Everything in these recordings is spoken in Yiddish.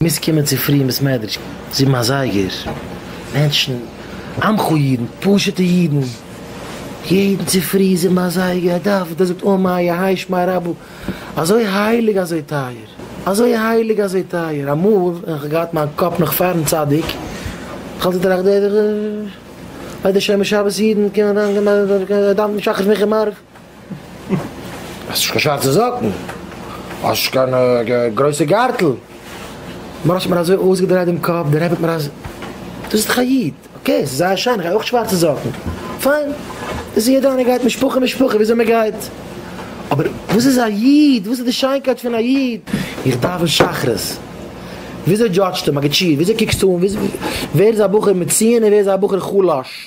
מוזט קומען צופרי אין בית מדרש זיבן אזייגער, מענטשן, עמך אידן, פשוטע אידן, יעדן צופרי זיבן אזייגער א דאווענען, דער זאגט און מיה היי שמע רבו, אזוי הייליג אזוי טייער, אזוי הייליג אזוי טייער, אמאל ווען איך האב געהאט מיין קאפ נאך פארן צדיק, איך האלט געטראכט דער וועט דערשענען שבת אידן קומען אריין דאווענען שחרית מנחה מעריב. האסט נישט קיין שווארצע זאקן, האסט נישט קיין גרויסע גארטל, מרן האט מיר אזוי אויסגעדרייט דעם קאפ, דער רבי האט מיר אז, דאס איז דאך א איד, אקעי, ס'איז זייער שיין, איך גיי אויך שווארצע זאקן, פיין, דאס איז יעדער איינער גייט משפחה משפחה וויאזוי מען גייט, אבער וואס איז א איד, וואס איז די שיינקייט פון א איד, איך דאווען שחרית, וויאזוי דזשאדזשטו מגיד שיעור, וויאזוי קוקסטו אן, ווער איז א בחור מצויין און ווער איז א בחור חלש.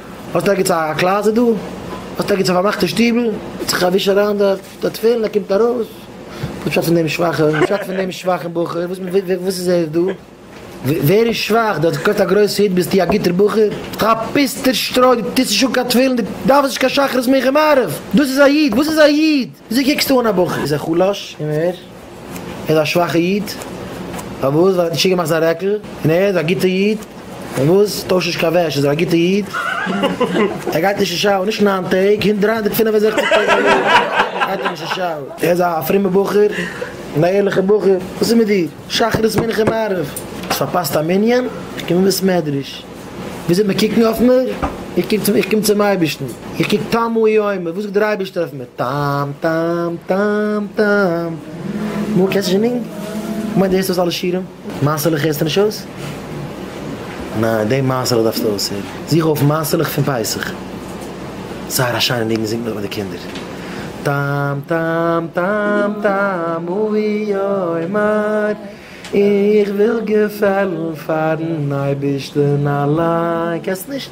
האסט ערגעץ א קלאזעט דא? האסט ערגעץ א פארמאכטע שטיבל? גיבט זיך א וויש אריין די די תפילין ער קומט ארויס, וואס פשט פון דעם שוואכע וואס פשט פון דעם שוואכן בחור וואס וואס איז ער דא? ווער איז שוואך? דו האסט געקויפט א גרויסע הוט ביסטו א גוטער בחור? דו א פיסטער שטרוי דו טוסט נישט אן קיין תפילין דו דארפסט נישט קיין שחרית מנחה מעריב דאס איז א איד? וואס איז א איד? וויאזוי קוקסטו אן א בחור? איז ער חלש? ער איז א שוואכע איד, פארוואס? ווייל ער האט נישט צוגעמאכט זיין רעקל, און ער איז א גוטע איד, פארוואס? טויש נישט קיין וועש, איז ער א גוטע איד, ער גייט נישט אין שאוער, נישט ניין טעג, הונט דרײַ הונדערט פֿינף און זעכציק טעג א יאר גייט ער נישט אין שאוער, ער איז א פרומע בחור, און א ערליכע בחור, וואס איז מיט דיר? שחרית מנחה מעריב, האסט פארפאסט א מנין? קום אין בית מדרש. וויאזוי מיר קוקן אויף מיר, איך קום צום אייבערשטן, איך קוק טעמו יומי, וואס זאגט דער אייבערשטער אויף מיר, טעם טעם טעם טעם. נו, קענסט נישט די ניגון? כ'מיין דו הערסט אויס אלע שירים? מעשה'לעך הערסטו נישט אויס? ניין, דעם מעשה'לעך דארפסטו אויסהערן. זוך אויף מעשה'לעך פון פסח. זייער א שיינע ניגון, זינגט מען מיט די קינדער. טעם טעם טעם טעמו יומי. איך וויל געפעלן פארן אייבערשטן אליין. קענסט נישט?